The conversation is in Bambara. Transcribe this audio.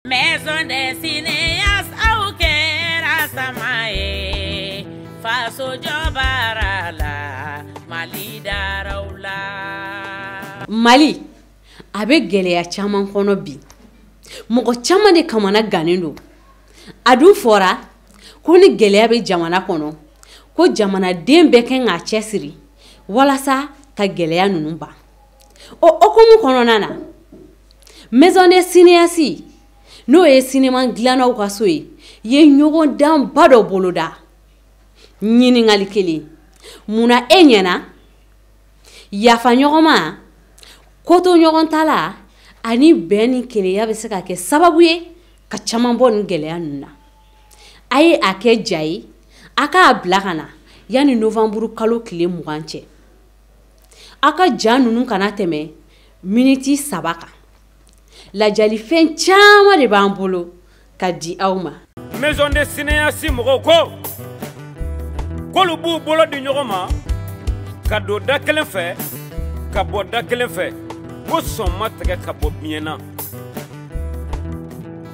Maison des cinéastes aw kɛra sama ye faso jɔbaara la Mali daraw la. Mali a bɛ gɛlɛya caman kɔnɔ bi mɔgɔ caman de kamana gannen don a dun fɔra ko ni gɛlɛya bɛ jamana kɔnɔ ko jamanaden bɛɛ kan k'a cɛsiri walasa ka gɛlɛya ninnu ban. o hukumu kɔnɔna na maison des cinéastes n'o ye cinéma dilannaw ka so ye ye ɲɔgɔndanba dɔ boloda ɲininkali kelen munna e ɲɛ na yafa ɲɔgɔnma kotoɲɔgɔntala ani bɛn ni kelenya bɛ se ka kɛ sababu ye ka caman bɔ nin gɛlɛya ninnu na a ye a kɛ ja ye a k'a bila ka na yanni novanburu kalo tile mugan cɛ aw ka ja ninnu kana tɛmɛ miniti saba kan ladiyalifɛn caman de b'an bolo ka di aw ma maison des cinéastes mɔgɔw ko k'olu b'u bolo di ɲɔgɔn ma ka don da kelen fɛ ka bɔ da kelen fɛ ko sɔn ma tigɛ ka bɔ biɲɛ na